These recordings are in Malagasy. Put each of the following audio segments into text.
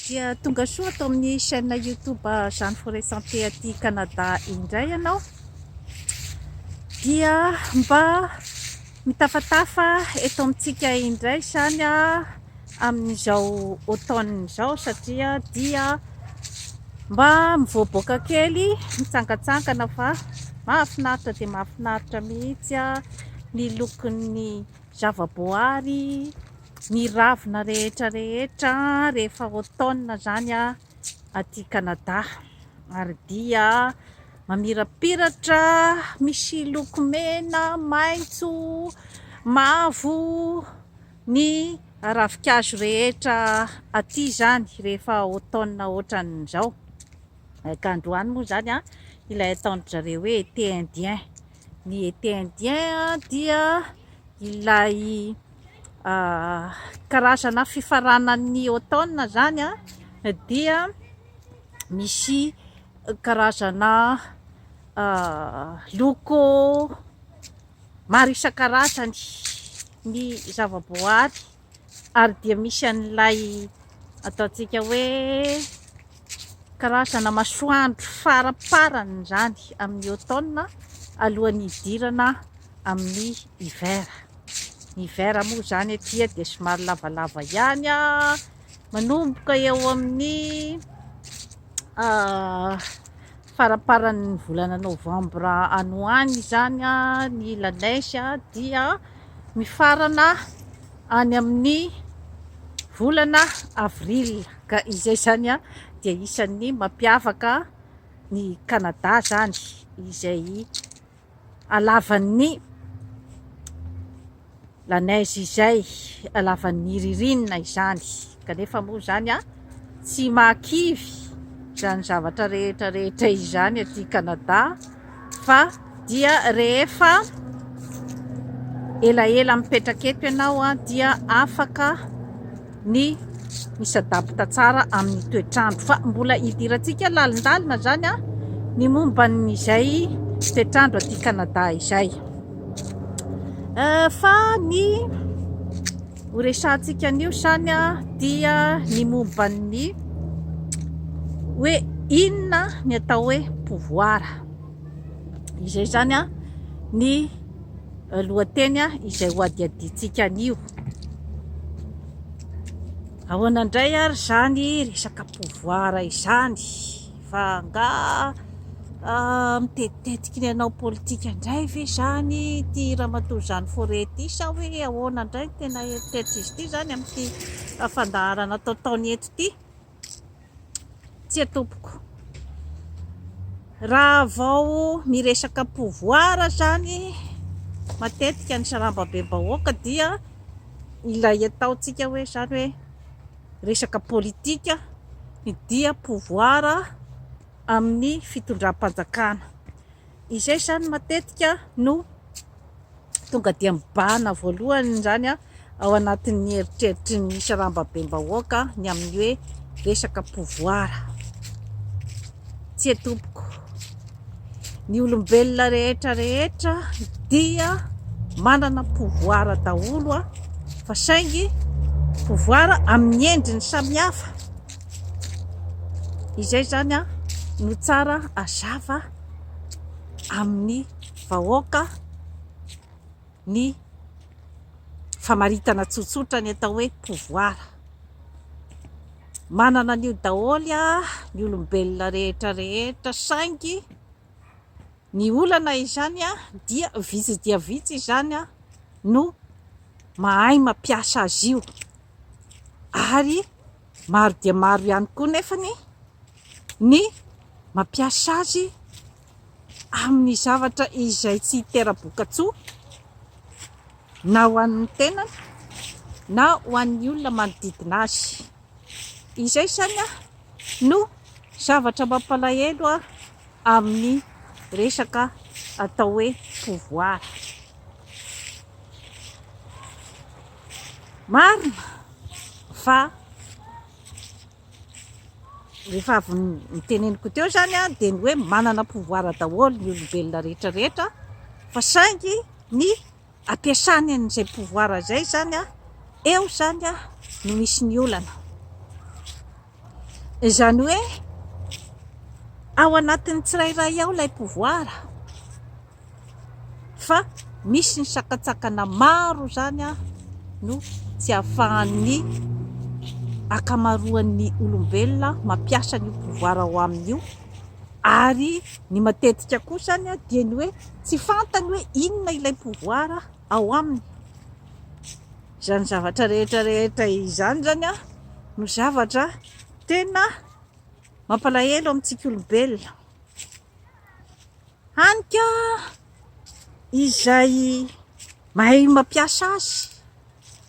Dia tonga soa ato amin'ny chaîne YouTube Jeanne Forêt Santé aty Canada indray ianao. Dia mba mitafatafa eto amintsika indray izany amin'izao automne izao satria dia mba mivoaboaka kely, mitsangantsangana fa mahafinaritra dia mahafinaritra mihitsy ny lokon'ny zavaboary. Ny ravina rehetra rehetra rehefa automne zany aty Canada ary dia mamirapiratra misy loko mena, maitso, mavo ny ravin-kazo rehetra aty zany rehefa automne otran'izao ka androany moa zany ilay ataon-dry zareo hoe été indien, ny été indien dia ilay karazana fifaranan'ny Automne zany dia misy karazana loko maro isan-karazany ny zava-boahary ary dia misy an'ilay ataontsika hoe Karazana masoandro faraparany izany amin'ny automne alohan'ny hidirana amin'ny hiver. Ny hiver moa izany aty dia somary lavalava ihany, manomboka eo amin'ny Faramparan'ny volana novambra any ho any izany ny la neige dia mifarana any amin'ny volana avril ka izay izany dia isan'ny mampiavaka ny Canada izany izay halavan'ny la neige izay, halavan'ny ririnina izany, kanefa moa izany an, tsy mahakivy izany zavatra rehetra rehetra izany aty Canada fa dia rehefa elaela mipetraka eto ianao dia afaka ny misadabta tsara amin'ny toetr'andro fa mbola hidirantsika lalindalina zany a ny momba n'izay toetr'andro aty Canada izay euh, fa ny horesantsika anio zany a dia ny momba ny hoe inona ny atao hoe pouvoir izay zany a ny euh, lohateny a izay hoadiadintsika anio Ahoana indray ary izany resaka pouvoir izany fa nga ah, mitetitetika ny hanao politika indray ve izany ity ramatoa Jeanne Forêt ity sa hoe ahoana indray ny tena eritreritr'izy ity izany amin'ity fandaharana ataotaony eto ity? Tsia tompoko. Raha vao miresaka pouvoir zany matetika ny sarambabem-bahoaka dia ilay ataontsika hoe zany hoe resaka politika ny dia pouvoir amin'ny fitondram-panjakana. Izay zany matetika no. Tonga dia mibahana voalohany izany ao anatin'ny eritreritry ny sarambabem-bahoaka ny amin'ny hoe resaka pouvoir. Tsia tompoko, ny olombelona rehetra rehetra dia manana pouvoir daholo fa saingy pouvoir amin'ny endriny samihafa. Izay izany no tsara hazava amin'ny vahoaka ny famaritana tsotsotra ny atao hoe pouvoir. Manana an'io daholo ny olombelona rehetra rehetra saingy ny olana izany dia vitsy dia vitsy izany no mahay mampiasa azy io ary maro dia maro ihany koa nefany ny mampiasa azy amin'ny zavatra izay tsy hitera-bokatsoa na ho an'ny tenany na ho an'ny olona manodidina azy. Izay izany no zavatra mampalahelo amin'ny resaka atao hoe pouvoir. Marina fa Rehefa avy noteneniko teo izany dia ny hoe manana pouvoir daholo ny olombelona rehetra rehetra fa saingy ny ampiasany an'izay pouvoir izay izany eo izany no misy ny olana. Izany hoe ao anatin'ny tsirairay ao ilay pouvoir. fa misy ny sakantsakana maro izany no tsy ahafahan'ny ankamaroan'ny olombelona mampiasa an'io pouvoir ao aminy io ary ny matetika koa izany dia ny hoe tsy fantany hoe inona ilay pouvoir ao aminy. Izany zavatra rehetra rehetra izany izany no zavatra tena mampalahelo amintsika olombelona. Hany ka izay mahay mampiasa azy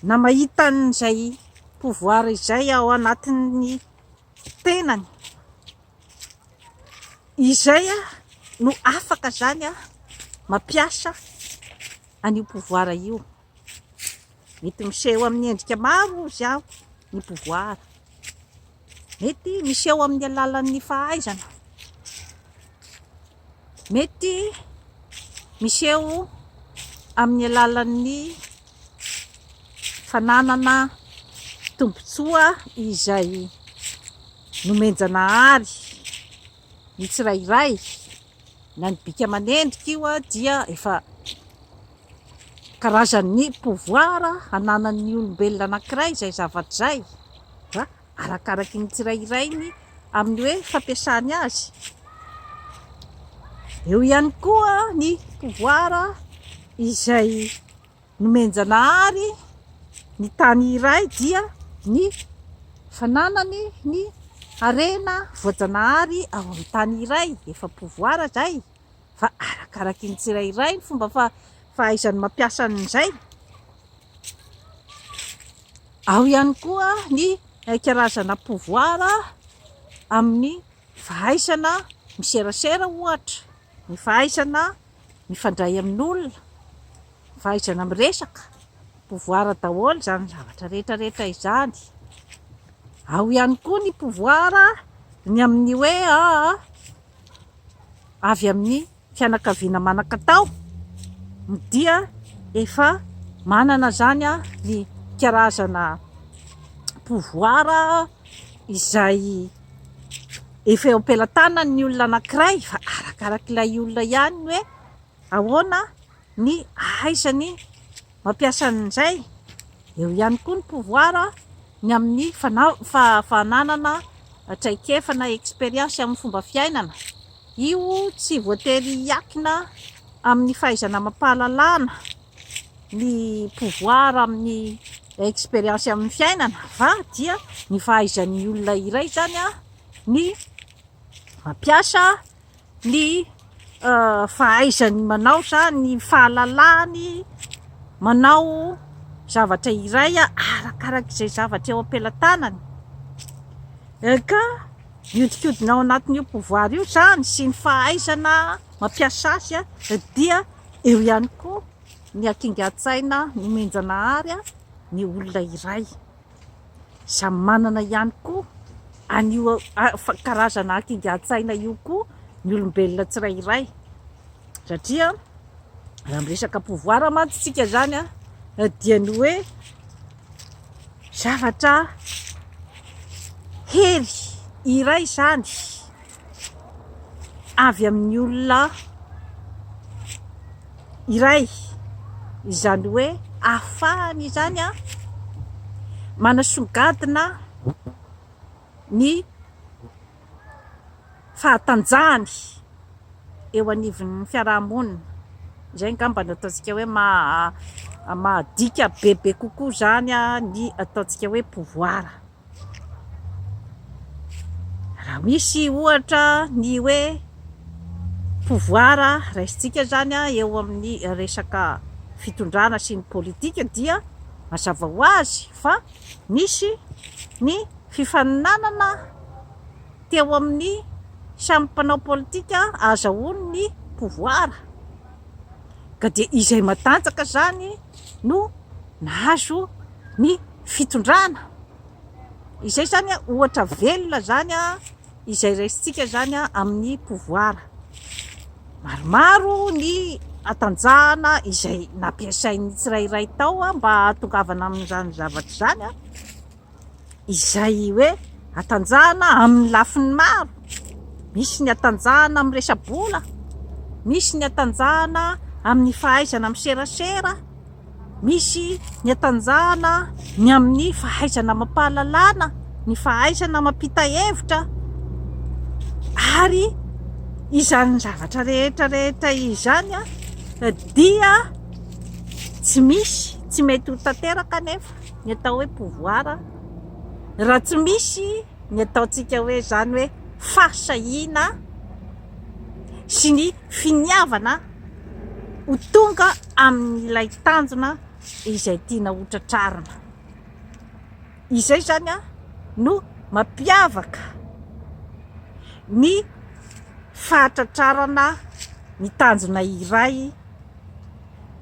na mahita an'izay pouvoir izay ao anatin'ny tenany, izay no afaka izany mampiasa an'io pouvoir io. Mety miseho amin'ny endrika maro hozy aho ny pouvoir. Mety miseho amin'ny alalan'ny fahaizana. Mety miseho amin'ny alalan'ny fananana tombontsoa izay nomen-janahary ny tsirairay na ny bika aman'endrika io dia efa Karazan'ny pouvoir ananan'ny olombelona anankiray izay zavatra izay dia arakaraky ny tsirairainy amin'ny hoe fampiasany azy. Eo ihany koa ny pouvoir izay nomen-janahary ny tany iray dia ny fananany ny harena voajanahary ao amin'ny tany iray, efa pouvoir izay. fa arakaraky ny tsirairay ny fomba fa fahaizany mampiasa an'izay. Ao ihany koa ny karazana pouvoir amin'ny fahaizana miserasera ohatra, ny fahaizana mifandray amin'olona, ny fahaizana miresaka, pouvoir daholo izany zavatra rehetra rehetra izany. Ao ihany koa ny pouvoir ny amin'ny hoe aa. avy amin'ny fianakaviana manan-katao dia efa manana izany ny karazana pouvoir izay efa eo am-pelatanan'ny olona anankiray fa arakarak'ilay olona ihany ny hoe Ahoana ny ahaizany mampiasa an'izay? Eo ihany koa ny pouvoir ny amin'ny fananana traikefa na expérience amin'ny fomba fiainana. Io tsy voatery hiankina amin'ny fahaizana amam-pahalalana ny pouvoir amin'ny expérience amin'ny fiainana fa dia ny fahaizan'ny olona iray izany ny mampiasa ny fahaizany manao izany, ny fahalalany manao zavatra iray arakaraka izay zavatra eo am-pelatanany ka mihodinkodina ao anatin'io pouvoir io izany sy ny fahaizana mampiasa azy dia eo ihany koa ny hakingan-tsaina nomen-janahary ny olona iray. Samy manana ihany koa an'io karazana hakingan-tsaina io koa ny olombelona tsirairay satria raha miresaka pouvoir mantsy tsika zany dia ny hoe zavatra hery iray zany avy amin'ny olona iray, izany hoe ahafahany izany manasongadina ny fahatanjahany eo anivon'ny fiaraha-monina, izay angamba no ataontsika hoe maha-, mahadika bebe kokoa izany ny ataontsika hoe pouvoir. Raha misy ohatra ny hoe pouvoir raisintsika izany eo amin'ny resaka fitondrana sy ny politika dia mazava ho azy fa nisy ny fifaninanana teo amin'ny samy mpanao politika ahazahoany ny pouvoir. ka dia izay matanjaka izany no nahazo ny fitondrana, izay izany ohatra velona izany izay raisintsika izany amin'ny pouvoir, maromaro ny hatanjahana izay nampiasain'ny tsirairay tao mba hahatongavana amin'izany zavatra izany. izay hoe hatanjahana amin'ny lafiny maro, misy ny hatanjahana amin'ny resa-bola, misy ny hatanjahana amin'ny fahaizana miserasera, misy ny hatanjahana ny amin'ny fahaizana amam-pahalalana, ny fahaizana mampita hevitra ary izany zavatra rehetra rehetra izany dia tsy misy tsy mety ho tanteraka anefa. ny atao hoe pouvoir raha tsy misy ny ataontsika hoe izany hoe fahasahiana sy ny finiavana ho tonga amin'ilay tanjona izay tiana ho tratrarina. Izay izany no mampiavaka ny fahatratrarana ny tanjona iray.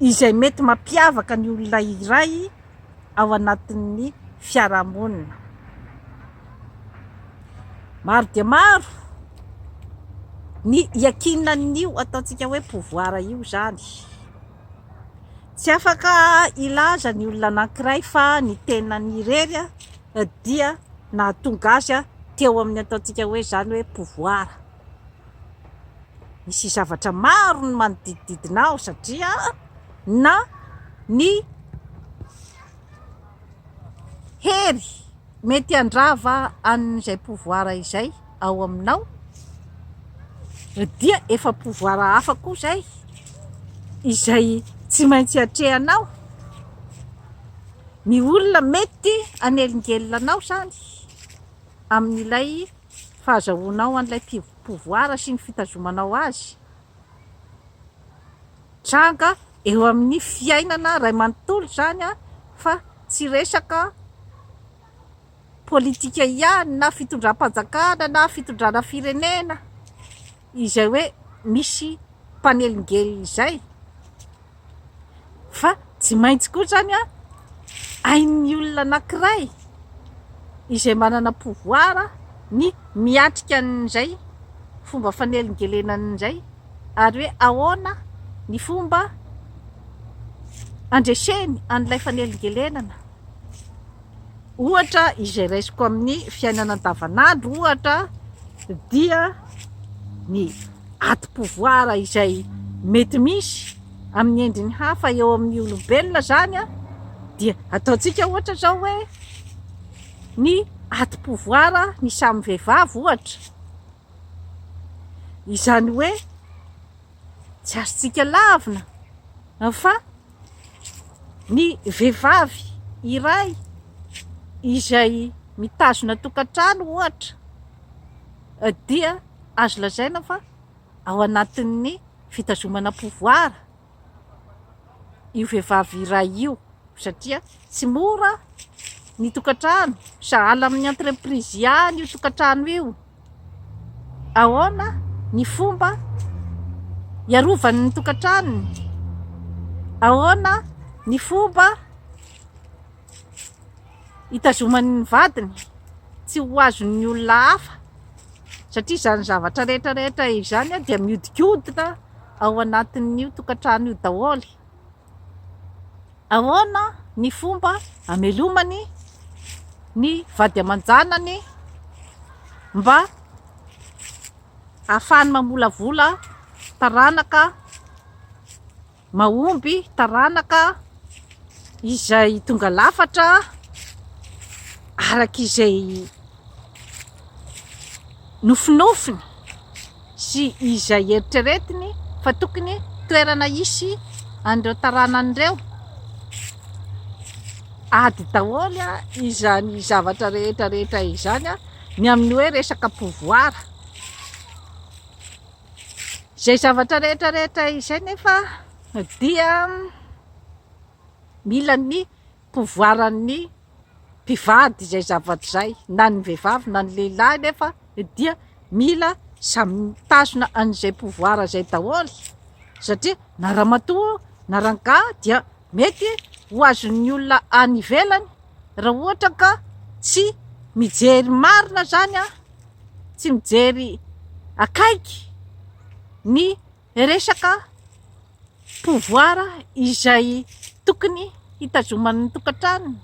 izay mety mampiavaka ny olona iray ao anatin'ny fiarahamonina. Maro dia maro ny iakinan'io ataontsika hoe pouvoir io izany. Tsy afaka hilaza ny olona anankiray fa ny tenany irery dia nahatonga azy teo amin'ny ataontsika hoe izany hoe pouvoir. Misy zavatra maro ny manodidididina aho satria na ny hery mety handrava an'izay pouvoir izay ao aminao dia efa pouvoir hafa koa izay, izay tsy maintsy atrehanao. Ny olona mety hanelingelina anao izany amin'ilay Ny fahazahoanao an'ilay pouvoir sy ny fitazomanao azy mitranga eo amin'ny fiainana iray manontolo izany fa tsy resaka politika ihany na fitondram-panjakana na fitondrana firenena. Izay hoe misy mpanelingelina izay fa tsy maintsy koa izany hain'ny olona anankiray izay manana pouvoir ny miatrika an'izay fomba fanelingelenany izay ary hoe ahoana ny fomba handreseny an'ilay fanelingelenana. Ohatra izay raisiko amin'ny fiainana andavanandro ohatra dia ny adim-pouvoir izay mety misy amin'ny endriny hafa eo amin'ny olombelona izany an, dia ataontsika ohatra izao hoe ny adim-pouvoir ny samy vehivavy ohatra, izany hoe tsy azontsika lavina fa. Ny vehivavy iray izay mitazona tokantrano ohatra dia azo lazaina fa ao anatin'ny fitazomana pouvoir io vehivavy iray io satria tsy mora ny tokantrano, sahala amin'ny entreprise ihany io tokantrano io. Ahoana ny fomba hiarovany ny tokantranony? Ahoana ny fomba hitazomany ny vadiny tsy ho azon'ny olona hafa? Satria izany zavatra rehetra rehetra izany dia mihodinkodina ao anatin'io tokantrano io daholo. Ahoana ny fomba hamelomany ny vady aman-janany mba hahafahany mamolavola taranaka mahomby, taranaka izay tonga lafatra araka izay nofinofiny? sy izay eritreretiny fa tokony toerana hisy an'ireo taranany ireo, ady daholo izany zavatra rehetra rehetra izany ny amin'ny hoe resaka pouvoir, izay zavatra rehetra rehetra izay nefa dia mila ny pouvoiran'ny mpivady izay zavatra izay na ny vehivavy na ny lehilahy nefa dia mila samy mitazona an'izay pouvoir izay daholo satria na ramatoa na rangahy dia mety ho azon'ny olona any ivelany raha ohatra ka tsy mijery marina zany a tsy mijery akaiky ny resaka pouvoir izay tokony hitazoman'ny tokantranony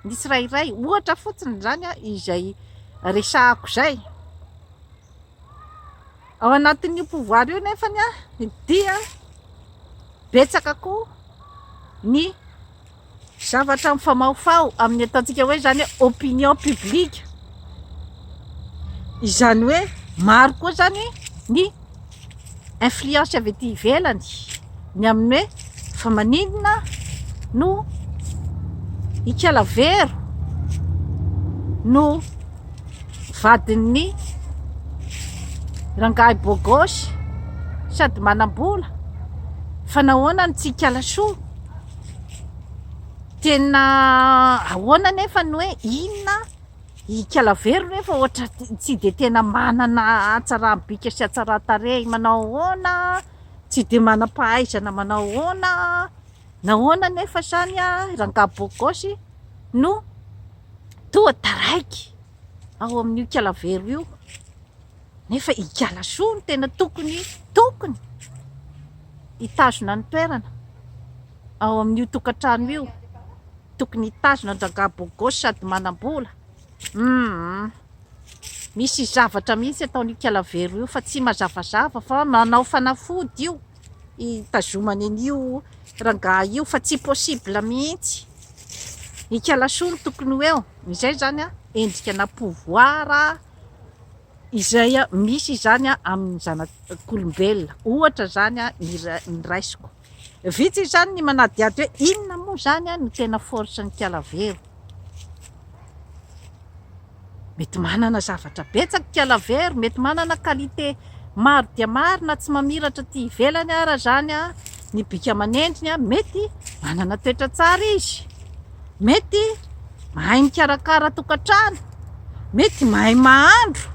ny tsirairay, ohatra fotsiny izany izay resahako izay, ao anatin'io pouvoir io nefa dia betsaka koa ny. Zavatra mifamahofaho amin'ny ataontsika hoe izany hoe opinion publique. Izany hoe maro koa izany ny influence avy aty ivelany ny amin'ny hoe fa maninona no ikala vero no vadin'ny rangahy bogosy sady manam-bola fa nahoana no tsy ikala soa. Tena ahoana anefa ny hoe inona ikala very nefa ohatra tsy dia tena manana hatsaram-bika sy hatsaran-tarehy manao ahoana, tsy dia manam-pahaizana manao ahoana, nahoana anefa izany rangahy beau gosse no toa taraiky ao amin'io ikala very io? Nefa Igalasoa no tena tokony tokony hitazona ny toerana ao amin'io tokantrano io, tokony hitazona an-dRangahy Bogosy sady manam-bola, humm misy zavatra mihitsy ataon'Ikalavero io fa tsy mazavazava fa manao fanafody io hitazomany an'io Rangahy io fa tsy possible mihitsy, Ikalasoa no tokony ho eo, izay izany an endrika na pouvoir izay misy izany amin'ny zanak'olombelona, ohatra izany ny raisiko, vitsy izany ny manadihady hoe inona moa izany no tena force n'ikala vero? mety manana zavatra betsaka ikala vero, mety manana qualité maro dia maro na tsy mamiratra aty ivelany ara izany ny bika aman'endriny, mety manana toetra tsara izy. mety mahay mikarakara tokantrano, mety mahay mahandro,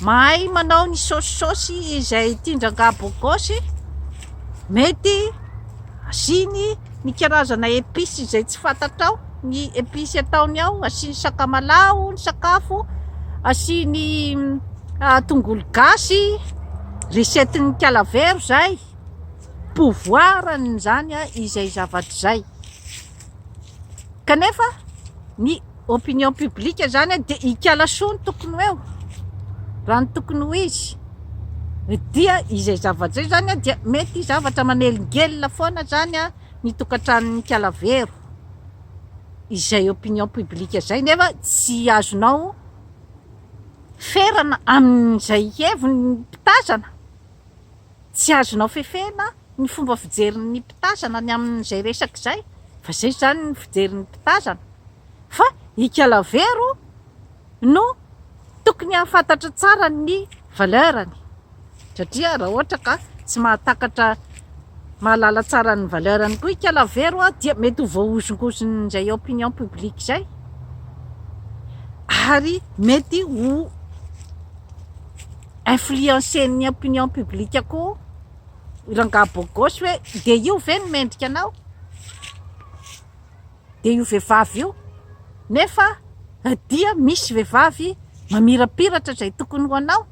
mahay manao ny saosisaosy izay tian-dRangaha Bogosy, mety asiany ny karazana episy izay tsy fantatrao, ny episy ataony ao, asiany sakamalaho ny sakafo, asiany ah, tongolo gasy, recette ny kalavero izay, pouvoir an'izany izay zavatra izay. Kanefa ny opinion publique zany dia hikala soa ny tokony ho eo, raha ny tokony ho izy dia izay zavatra izay zany dia mety zavatra manelingelina foana zany ny tokantranon'Ikalavero, izay opinion publique izay nefa tsy azonao ferana amin'izay heviny ny mpitazana. Tsy azonao fefena ny fomba fijerin'ny mpitazana ny amin'izay resaka izay fa izay izany ny fijerin'ny mpitazana fa i Kalavero no tokony hahafantatra tsara ny valeur-ny satria raha ohatra ka tsy mahatakatra mahalala tsara ny valeur-ny koa i Kalavero dia mety ho voahozongozin'izay opinion publique izay ary mety ho influencen'ny opinion publique koa rangahy beau gosse hoe dia io ve no mendrika anao? dia io vehivavy io nefa dia misy vehivavy mamirapiratra izay tokony ho anao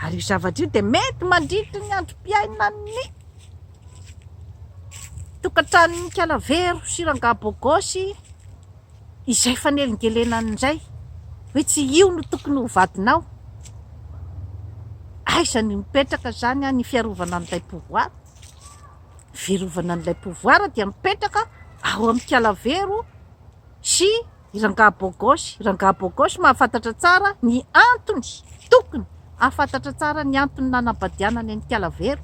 ary io zavatra io dia mety mandritry ny androm-piainan'ny tokantranon'ny kalavero sy rangahy beau gosse Izay fanelingelenany indray hoe tsy io no tokony ho vadinao? Aiza ny mipetraka izany an ny fiarovana an'ilay pouvoir? Ny fiarovana an'ilay pouvoir dia mipetraka ao amin'ny Kalavero sy i Rangahy Beau Gosse. I Rangahy Beau Gosse mahafantatra tsara ny antony, tokony hahafantatra tsara ny antony nanambadianany an'i Kalavero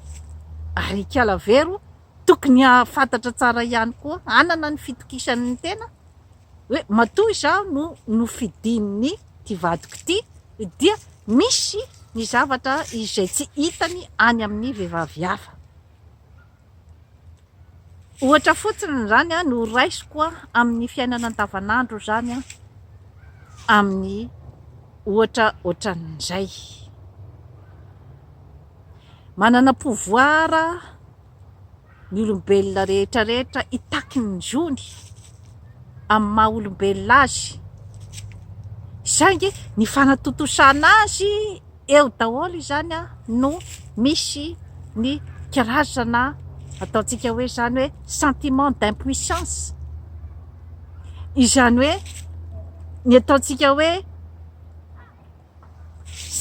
ary i Kalavero Tokony hahafantatra tsara ihany koa, hanana ny fitokisany ny tena hoe matoa izaho no nofidin'ity vadiko ity dia misy ny zavatra izay tsy hitany any amin'ny vehivavy hafa. Ohatra fotsiny izany no raisiko amin'ny fiainana andavanandro izany amin'ny ohatra ohatran'izay. Manana pouvoir ny olombelona rehetra rehetra hitaky ny zony amin'ny maha olombelona azy, saingy ny fanatontosana azy eo daholo izany no misy ny kirazana ataontsika hoe izany hoe sentiment d'impuissance, izany hoe ny ataontsika hoe.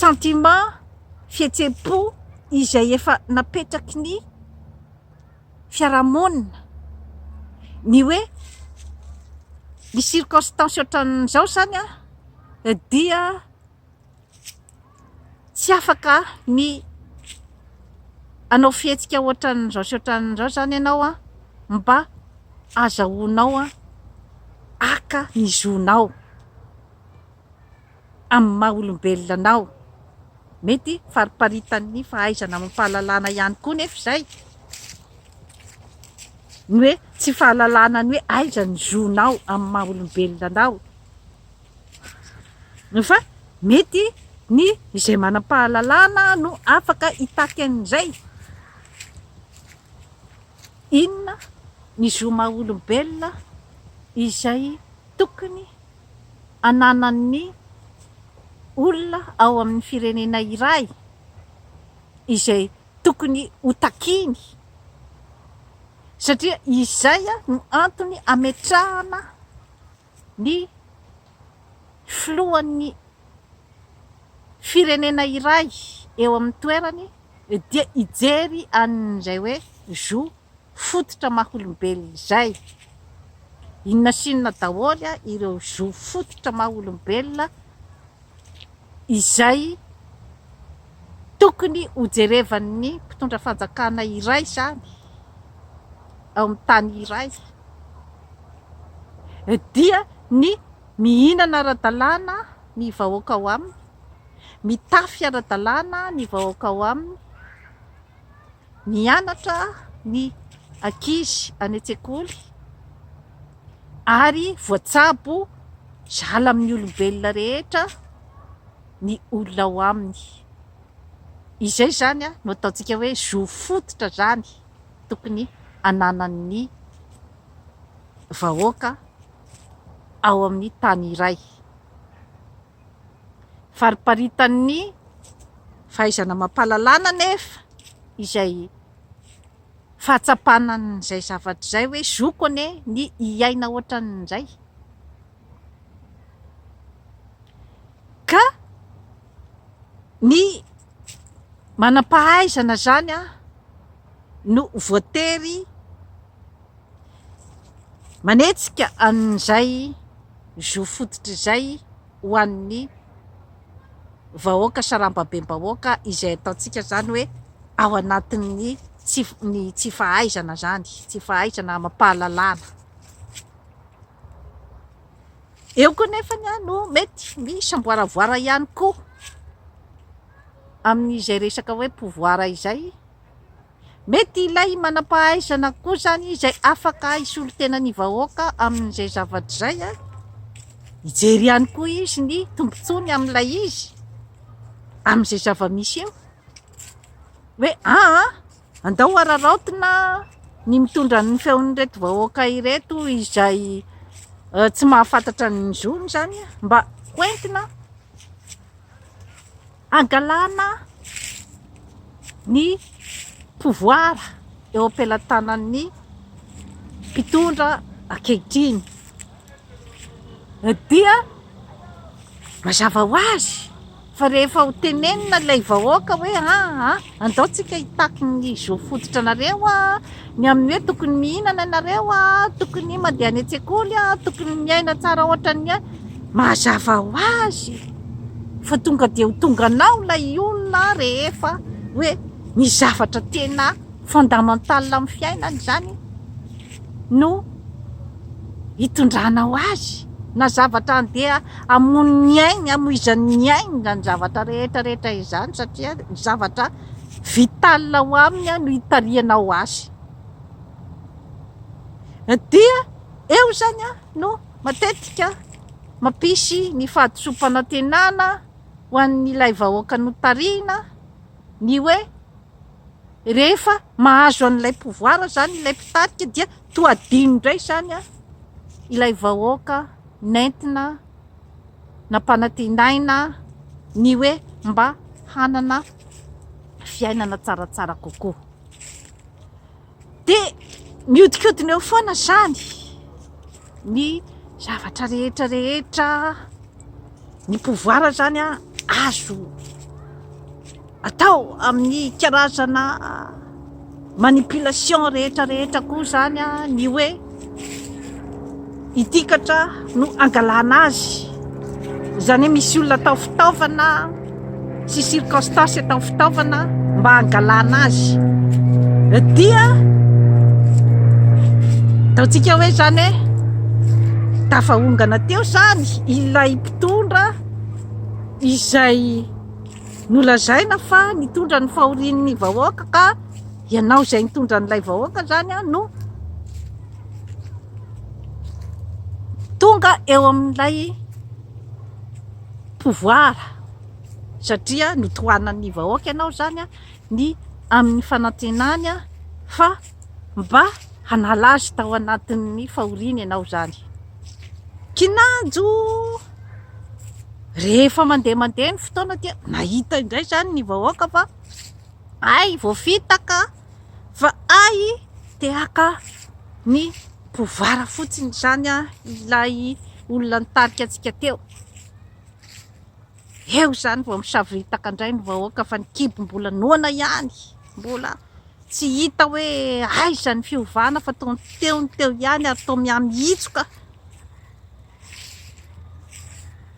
sentiment, fihetseham-po izay efa napetraky ny fiarahamonina ny hoe ny circonstance ohatran'izao izany dia tsy afaka ny hanao fihetsika ohatran'izao sy ohatran'izao izany ianao mba hazahoanao haka ny zonao. amin'ny maha olombelona anao. Mety fariparitan'ny fahaizana amam-pahalalana ihany koa nefa izay, ny hoe tsy fahalalana ny hoe aiza ny zonao amin'ny maha olombelona anao. Fa mety ny izay manam-pahalalana no afaka hitaky an'izay. Inona ny zo maha olombelona izay tokony. ananan'ny olona ao amin'ny firenena iray izay tokony ho takiany satria izay no antony ametrahana ny filohan'ny firenena iray eo amin'ny toerany dia hijery an'izay hoe zo fototra maha-olombelona izay. Inona sy inona daholo ireo zo fototra maha-olombelona izay tokony hojerevan'ny mpitondra fanjakana iray izany ao amin'ny tany iray dia ny mihinana ara-dalàna ny vahoaka ao aminy, mitafy ara-dalàna ny vahoaka ao aminy, Mianatra ny ankizy any an-tsekoly ary voatsabo zala amin'ny olombelona rehetra ny olona ao aminy. Izay izany no ataontsika hoe zo fototra izany tokony ananan'ny vahoaka ao amin'ny tany iray. Fariparitan'ny fahaizana amam-pahalalana anefa izay fahatsapana an'izay zavatra izay hoe zoko anie ny hiaina ohatran'izay ka ny manam-pahaizana izany an! no voatery manetsika an'izay zo fototra izay ho an'ny vahoaka sarambabem-bahoaka izay ataontsika izany hoe ao anatin'ny ny tsy fahaizana izany, tsy fahaizana amam-pahalalana. Eo koa nefa ny no mety misamboaravoara ihany koa amin'izay resaka hoe pouvoir izay. Mety ilay manam-pahaizana koa izany izay afaka hisolo tena ny vahoaka amin'izay zavatra izay, hijery ihany koa izy ny tombontsoany amin'ilay izy, amin'izay zava-misy eo hoe aa andao araraotina ny mitondra ny feon'ireto vahoaka ireto izay tsy mahafantatra ny zony izany mba ho entina. hangalana ny pouvoir eo am-pelatanan'ny mpitondra ankehitriny dia mazava ho azy fa rehefa ho tenenina ilay vahoaka hoe aa. Andao tsika hitaky ny zo fototra nareo a, ny amin'ny hoe tokony mihinana nareo a, tokony mandeha any an-tsekoly a, tokony miaina tsara ohatra ny ahy, mazava ho azy fa tonga dia ho tonga anao ilay olona rehefa hoe ny zavatra tena fondamental amin'ny fiainana izany no hitondranao azy na zavatra handeha hamono ny ainy, hamoizany ny ainy izany zavatra rehetra rehetra izany satria zavatra vital ao aminy no hitarihanao azy. Dia eo izany no matetika mampisy ny fahadisoam-panantenana ho an'ilay vahoaka notarihina ny hoe. Rehefa mahazo an'ilay pouvoir zany ilay mpitarika dia toa adino indray zany ilay vahoaka nentina nampanantenaina ny hoe mba hanana fiainana tsaratsara kokoa. De mihodinkodina eo foana izany ny zavatra rehetra rehetra, ny pouvoir izany an azo atao amin'ny karazana manipulation rehetra rehetra koa izany an ny hoe. itikatra no angalana azy izany misy olona atao fitaovana sy circonstance atao fitaovana mba angalana azy dia taontsika hoe zany hoe tafahongana teo zany ilay mpitondra izay nolazaina fa nitondra ny fahorian'ny vahoaka ka Ianao izay nitondra an'ilay vahoaka izany no tonga eo amin'ilay pouvoir satria notohanan'ny vahoaka ianao izany ny amin'ny fanantenany fa mba hanala azy tao anatin'ny fahoriana ianao izany. Kinanjo! Rehefa mandeha mandeha ny fotoana dia nahita indray izany ny vahoaka fa Hay voafita ka! Fa hay te haka ny pouvara fotsiny izany ilay olona nitarika antsika teo. Eo izany vao misavoritaka indray ny vahoaka fa ny kibo mbola noana ihany. Mbola tsy hita hoe aiza ny fiovana fa toa ny teo ny teo ihany ary toa mihamiitsoka.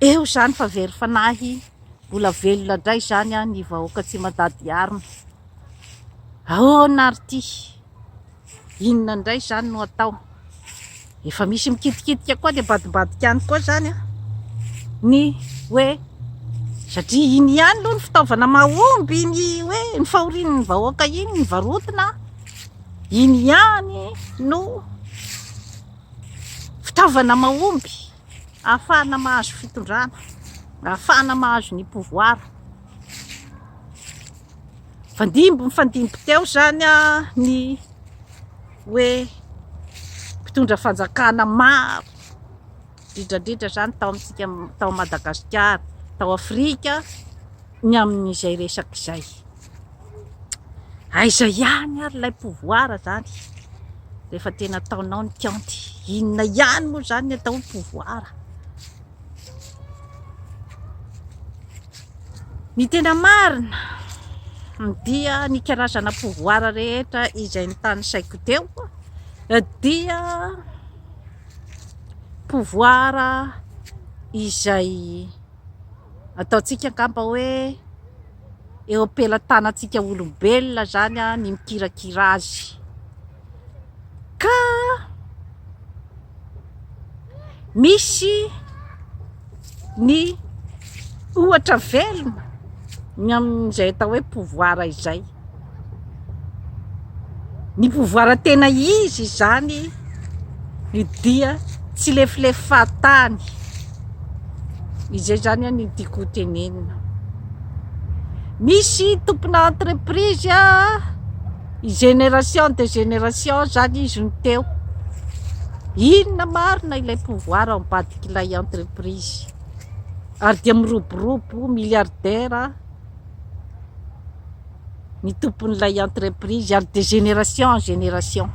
Eo izany fa very fanahy, mbola velona indray izany ny vahoaka tsy mandady arina. Ahoana ary ity? Inona indray izany no atao? Efa misy mikitikitika koa dia ambadimbadika any koa izany ny hoe satria iny ihany aloha ny fitaovana mahomby ny hoe ny fahorian'ny vahoaka iny ny varotina, iny ihany no Fitaovana mahomby ahafahana mahazo fitondrana, ahafahana mahazo ny pouvoir. Nifandimby nifandimby teo izany ny hoe mpitondra fanjakana maro indrindra indrindra izany tao amintsika tao Madagasikara, tao Afrika ny amin'izay resaka izay. Aiza ihany ary ilay pouvoir izany rehefa tena ataonao ny county? Inona ihany moa izany ny atao hoe pouvoir? Ny tena marina dia ny karazana pouvoir rehetra izay notanisaiko teo dia pouvoir izay ataontsika angamba hoe eo am-pelatanantsika olombelona izany ny mikirakira azy ka misy ny ohatra velona ny amin'izay atao hoe pouvoir izay. Ny pouvoir tena izy izany ny dia tsy lefilefatany izay zany any ny tiako tenenina misy tompona entreprise a i génération de génération zany izy no teo inona marina ilay pouvoir ao ambadik'ilay entreprise ary dia miroborobo milliardaire ny tompon'ilay entreprise ary de génération en génération.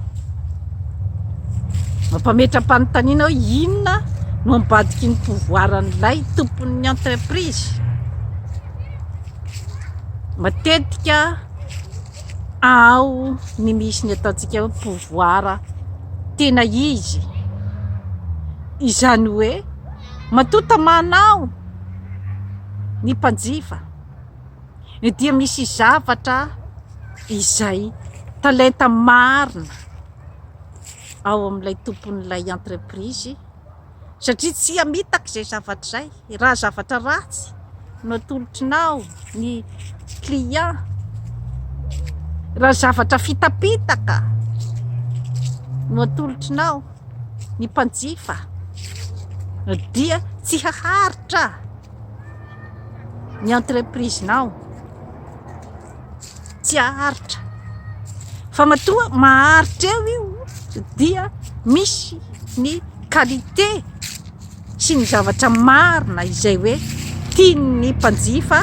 Mampametra-panontaniana hoe inona no ambadiky ny pouvoir an'ilay tompon'ny entreprise? Matetika ao ny misy ny ataontsika hoe pouvoir tena izy, izany hoe. Matoa tamanao ny mpanjifa dia misy zavatra izay talenta marina ao amin'ilay tompon'ilay entreprise satria tsy hamitaka izay zavatra izay raha zavatra ratsy no atolotrinao ny client, raha zavatra fitapitaka no atolotrinao. Ny mpanjifa dia tsy haharitra ny entreprise-nao, tsy haharitra fa matoa maharitra eo io dia misy ny qualité. sy ny zavatra marina izay hoe tian'ny mpanjifa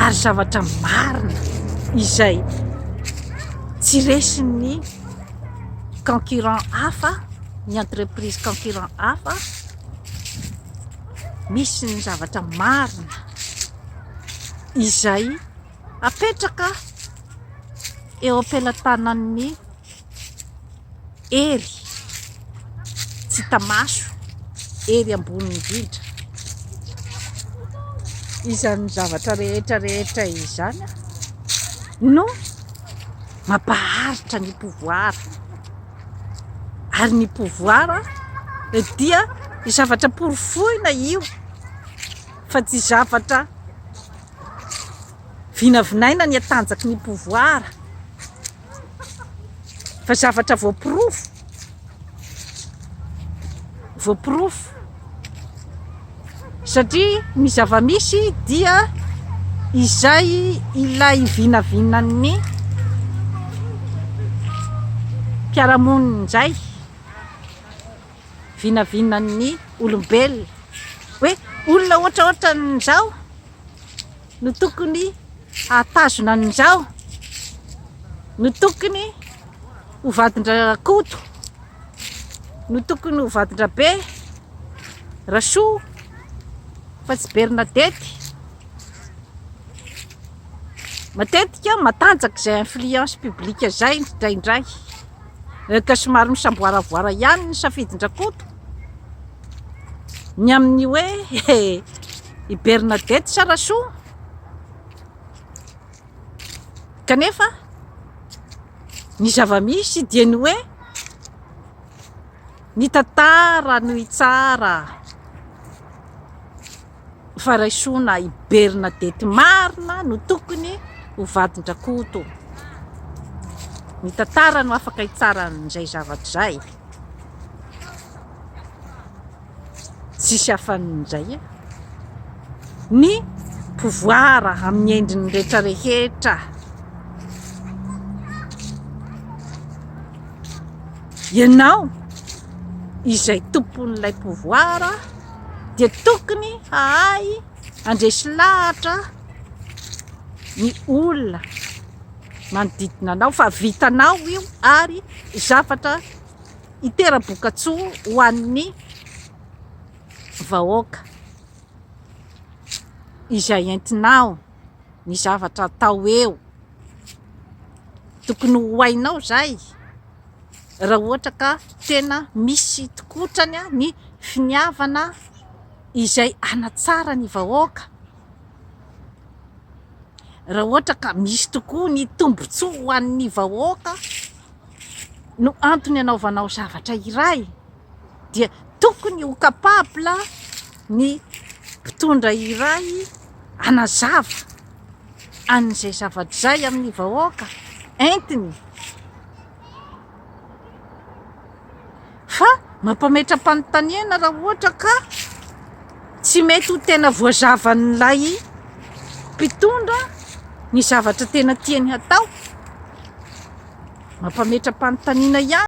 ary zavatra marina izay tsy resin'ny concurrent hafa ny entreprise concurrent hafa misy ny zavatra marina izay apetraka eo am-pelatanan'ny Hery tsy hita maso, hery ambony indrindra. Izany zavatra rehetra rehetra izany no mampaharitra ny pouvoir. Ary ny pouvoir dia zavatra porofoina io fa tsy zavatra vinavinaina ny hatanjaky ny pouvoir. Fa zavatra voaporofo, voaporofo, satria ny zava-misy dia izay ilay vinavinan'ny mpiara-monina indray, vinavinan'ny olombelona hoe olona ohatraohatran'izao. no tokony hahatazona an'i Ndrao, no tokony ho vadin-dRakoto, no tokony ho vadin-dRabe, Rasoa, fa tsy Bernadette. Matetika matanjaka izay influence publique izay indraindray, ka somary misamboaravoara ihany ny safidin-dRakoto. Ny amin'ny hoe i Bernadette sa Rasoa? Kanefa ny zava-misy dia ny hoe ny tantara no hitsara. Faraisoana i Bernadette marina no tokony ho vadin-dRakoto. Ny tantara no afaka hitsara an'izay zavatra izay. Tsisy afan'izay e. Ny pouvoir amin'ny endriny rehetra rehetra. Ianao izay tompon'ilay pouvoir. dia tokony hahay handresy lahatra ny olona manodidina anao fa vitanao io ary zavatra hitera-bokatsoa ho an'ny vahoaka izay entinao. ny zavatra atao eo. Tokony ho hainao izay raha ohatra ka tena misy tokotrany ny finiavana izay hanatsara ny vahoaka, raha ohatra ka misy tokoa ny tombontsoa ho an'ny vahoaka no antony anaovanao zavatra iray. dia tokony ho capable ny mpitondra iray hanazava an'izay zavatra izay amin'ny vahoaka entiny fa mampametra-panontaniana raha ohatra ka tsy mety ho tena voazavan'ilay mpitondra ny zavatra tena tiany hatao mampametra-panontaniana ihany